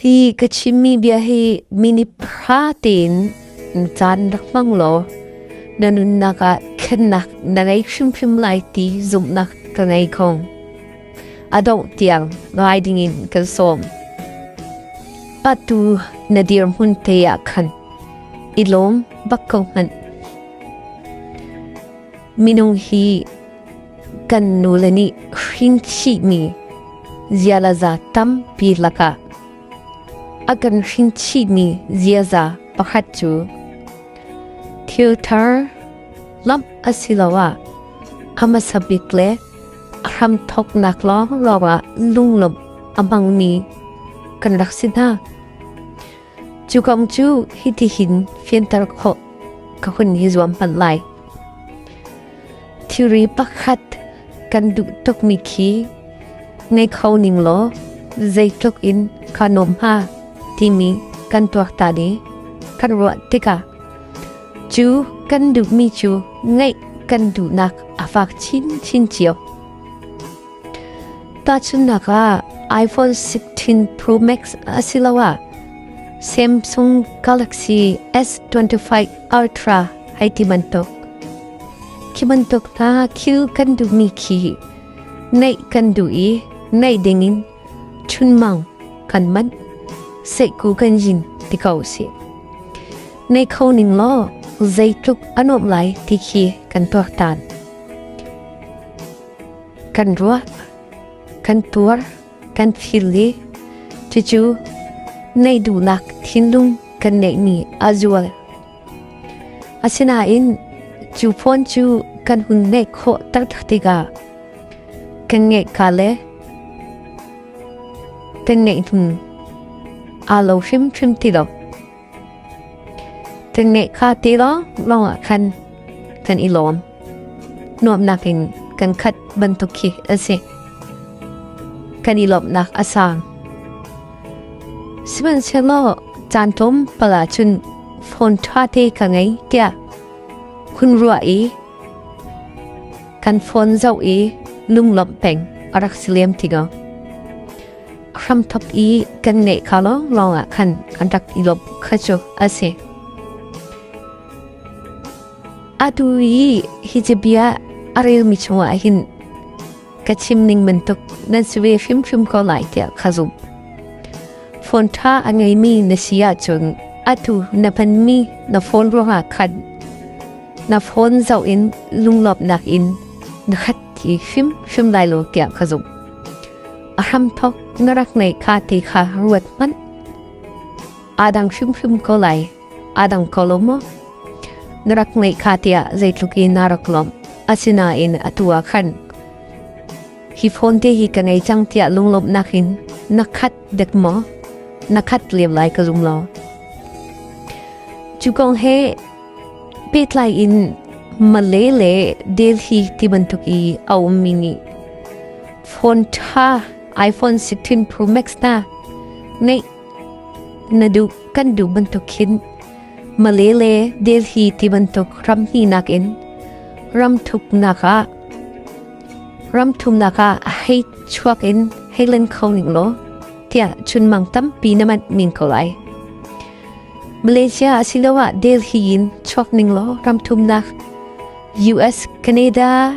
Hi ka chimmi bia hi minipha tein caan rak hmang law na nunnak ah thlennak na ngei hrimhrim lai ti zumhnak ka ngei ko. A dongh tiang ngai dingin kan sawm. Patu na dirhmun te ah khan i lawm bak ko hmanh. minung hi kan nule nih hrinchihmi zialaza tampi lakah a kan hrinchihmi ziaza pakhat cu thil thar lamp asiloah a masabik le a hramthoknak lawng lawngah lunglawmh a hmangmi kan rak si hna. Cu kong cu hitihin fianter khawh ka hun i zuam panh lai. Thilri pakhat kan duh tukmi khi ngei kho ning law zeitluk in kha nuam hnga timi kan tuaktan i kan ruah tikah cu kan duhmi cu ngaih kan duhnak a fak chinchin cio. Tahchunhnak ah, iPhone 16 Pro Max asiloah Samsung Galaxy S25 Ultra hai ti bantuk. Khi bantuk hna thil kan duhmi khi neih kan duh i neih dingin chunmang kan manh seku kan jin ti ko si. Nei kho ning law zeitluk anom lai ti khi kan tuak tan. kan ruah, kan tuar, kan thil le cucu nei duhnak thinlung kan neih ni a zual. Asinain cu phone cu kan hun neih khawh tak tikah kan nge ka le kan ngeih hlun aa lo hrim hrim ti lo. Kan ngeih kha ti law lawngah khan kan i lawm. Nuamnak in kan khat bantuk khi a si. Kan i lawmhnak a sang. Sihmanhsehlaw caan tlawm pala cun phone ṭha te ka ngei tiah hun ruah i kan phone zoh i lunglawmh peng a rak si lem tigo. hramthop i kan nge kha lawnglawng ah khan an rak i lop kha cu a si. Atu i hi bia a relmi chungah hin ka chim ning bantuk nan si ve hrimhrim ko lai tiah kha zum. Phone ṭha a ngeimi na si ahcun atu na hmanmi na phone ruangah khan na phone zoh in lunglawpnak in na khat ti hrim hrim lai lo kiah ka zum. a hramthok na rak nei kha te kha ruat hman adang hrimhrim ko lai adang ko lo mo na rak nei kha tia zeitluki na rak lom asina in atua khan hi phone te hi ka ngei chang tia lunglom nakin nakhat dek mo nakhat liam lai ka zum lo chu kong he Pehtlai in Malay le Delhi ti bantuk i a ummi nih phone ṭha iPhone 16 Pro Max hna neih na duh kan duh bantuk khin Malay le Delhi ti bantuk ram hninak in ramthuknak ah ramthumnak ah hei chuak in hei len kho ning law tiah chunmang tampi na mat min ko lai. Malaysia asiloah Delhi in chuak ning law ram thumnak US, Canada,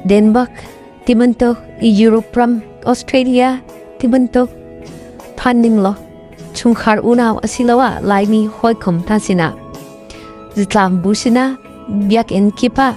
Denmark, tibantuk Europe ram Australia tibantuk phan ning law chungkhar unau asiloah laimi hawikom ta sina zitlam busina biak in kipa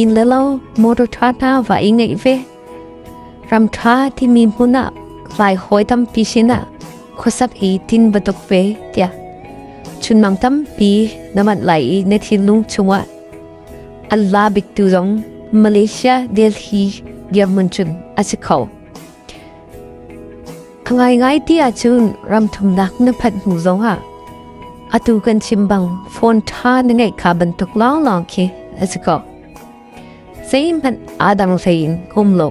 in le lo motor tha na va i ngei ve ram tha ti mi hmuna vai hoi tam pi sina khosap hi tin batuk ve tia chun mang tam pi namat lai i ne thin lung chunga Allah bik tu zong Malaysia Delhi German chun asikho A ngaingai ti ahcun ramthumnak na phat hnu zongah atu kan chim bang phone ṭha na ngeih kha bantuk lawnglawng khi a si ko. Zeihmanh adang hlein um lo.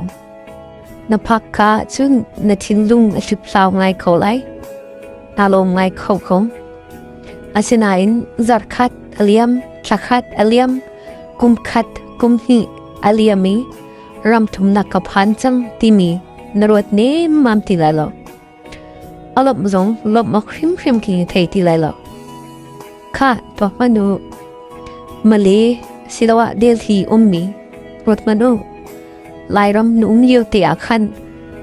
Na phak kha cun na thinlung a hliphlau ngai kho lai. Na lawm ngai kho ko. Asinain zarkhat aliam, thlakhat aliam, kumkhat kumhnih aliam i ramthum na ka phan chang timi na ruat nem mam ti lai lo alop zong lop mok hrim hrim ki thei ti lai lo kha to manu male silawa delhi ummi rot manu lairam num yo te a khan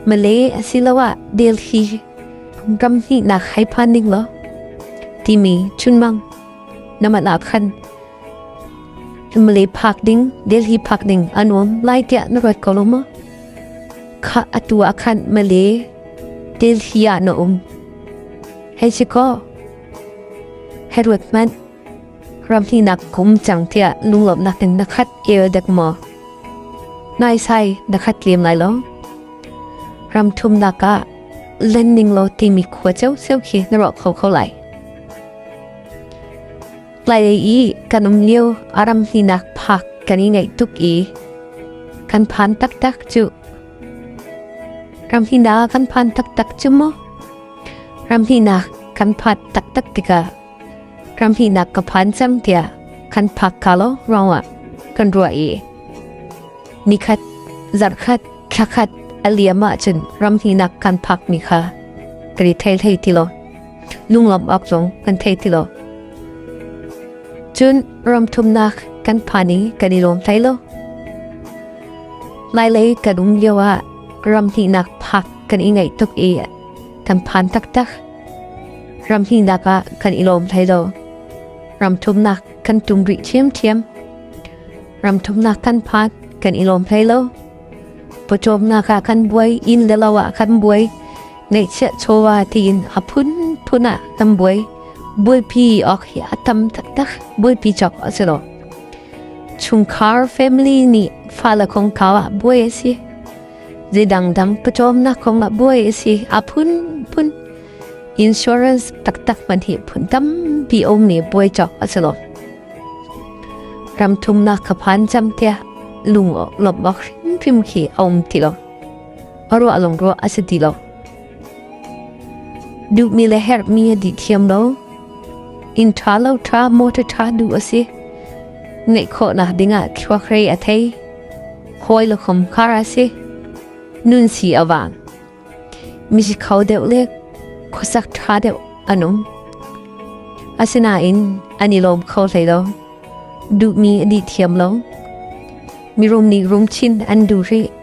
male silawa delhi ram ni na khai phan ning lo timi chunmang namala khan mali phak ding delhi phak ding anuam lai tia na ruat ko lo ma kha atu a khan mali delhi a na um hei chi ko herut man ramni nak kum chang tia lunglop nak in na khat el dek mo nai sai na khat lem lai lo ram thum na ka len ning lo ti mi khwa cheu seu khi na ro kho kho lai Tlai i kan um lio aram hninak phak kan i ngaih tuk i kan phan taktak cu. Ram hina kan phan taktak cu mo. Ram hina kan phat taktak tikah ram hina ka phan cam tia kan phak kalo rawa kan ruwa i nikhat zarkhat thlakhat aliama chun ram hina kan phak mi kha tri thei thei tilo nunglam ak zong kan thei tilo cun ram thumnak kan phani kan i lawm thai lo lai lei kan um lio ah ram hnih nak phak kan i ngai tuk i kan phan tak tak ram hnih nak ah kan i lawm thai lo ram thumnak kan tum ri thiam thiam ram thumnak kan phan kan i lawm thai lo pawcawm nak ah kan buai in le lo ah kan buai Neiksia chowa tiin a phunphun ah tam buai buaipi ok hi a tam taktak buaipi chok a si lo. Chungkhar family nih fala kong kau ah buai a si. Zei dangdang pachom na kong ah buai a si a phunphun. Insurance taktak man hi phun tam pi om ni buai chok a si lo. Ram thum na kaphan cham tia lung lop bak phim khi om ti lo. a ruah lawng ruah a si ti lo. Duhmi le herhmi a dih thiam lo. Inn ṭha lo ṭha motor ṭha du a si. Ngeih khawh na dingah thluak rei a thei. Hawi le khom khar a si. Nun si awang. Mi si kho deuh le khosak ṭha deuh anum. Asinain ani lom kho hlei lo. Duhmi a dih thiam lo. Mi rum nih rum chin an du ri.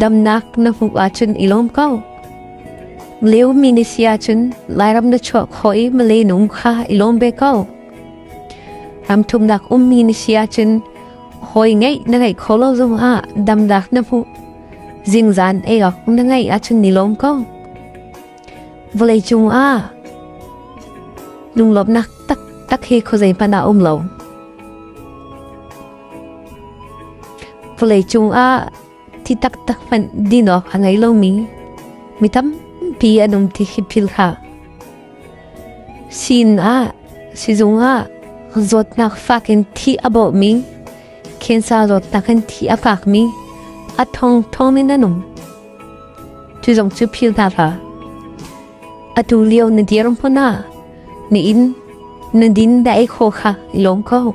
damnak na hmuh ahcun i lawm ko leu mi ni sia cun lairam na chuah kho i male nung kha i lawm be ko ramthum nak um mi ni sia cun hoi ngei na ngei kho lo zong ah damnak na hmu zingzan ei ok na ngei ahcun ni lawm ko vawlei cung ah nunglawmnak tak tak hi khozei pana um lo Vawlei cungah thi taktak hmanh din awk a ngei lomi mi tampi an um ti hi phil hlah. Sin ah, sizung ah, zawtnak fak in thi a bawhmi, khensa zawtnak in thi a fakmi, a thong thong in an um. Cu zong cu phil hna hlah. Atu lio na dir hmun ah, na in, na din da ei kho kha i lawm ko.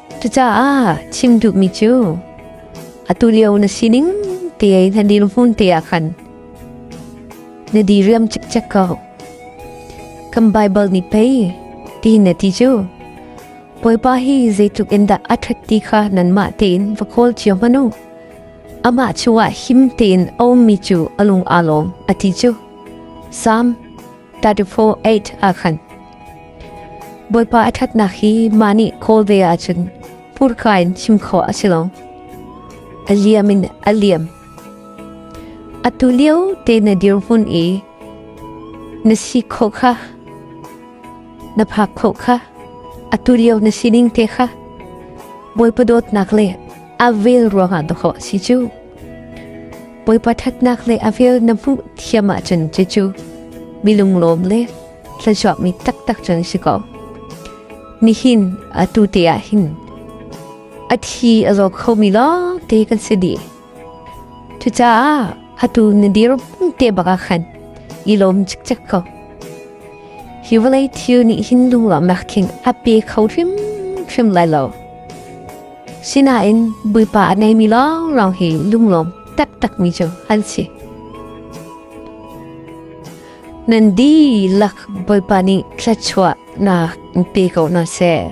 Cucaah chim duhmi cu atu lio na sining te na dil hmun te ah khan na di riam cikcek ko. Kan Bible nih pei ti na ti cu Bawipa hi zeitluk in dah a ṭhat ti kha nanmah tein va kawl cio hmanu. Amah chungah him tein a ummi cu a lung aa lawm a ti cu. Psalm 34:8 ahkhan Bawipa a ṭhatnak hi ma nih khawl ve ahcun purka in chim khawh a si lo a liam in a liam atu lio te na dir hun i na si khawh kha na phak khawh kha atu lio na sining te kha bawipa dawtnak le a vel ruangah dawkhawh si cu Poipa thatnak le avil na hmuh thiam ahcun che cu mi lunglawm le thlashuak mi taktak cun si ko. Nihin atu te ah hin a thi a zo kho mi lawng te kan si di. Cucaah atu na dir te baka khan i lom chik chak ko. Hi vawlei thil nih hin lunglam nak thing ape kho hrim hrim lai lo. Sinain Bawipa a neimi lawnglawng hi lunglawm taktakmi cu an si. Nan dihlak Bawipa nih thluachuahnak pe ko hna seh.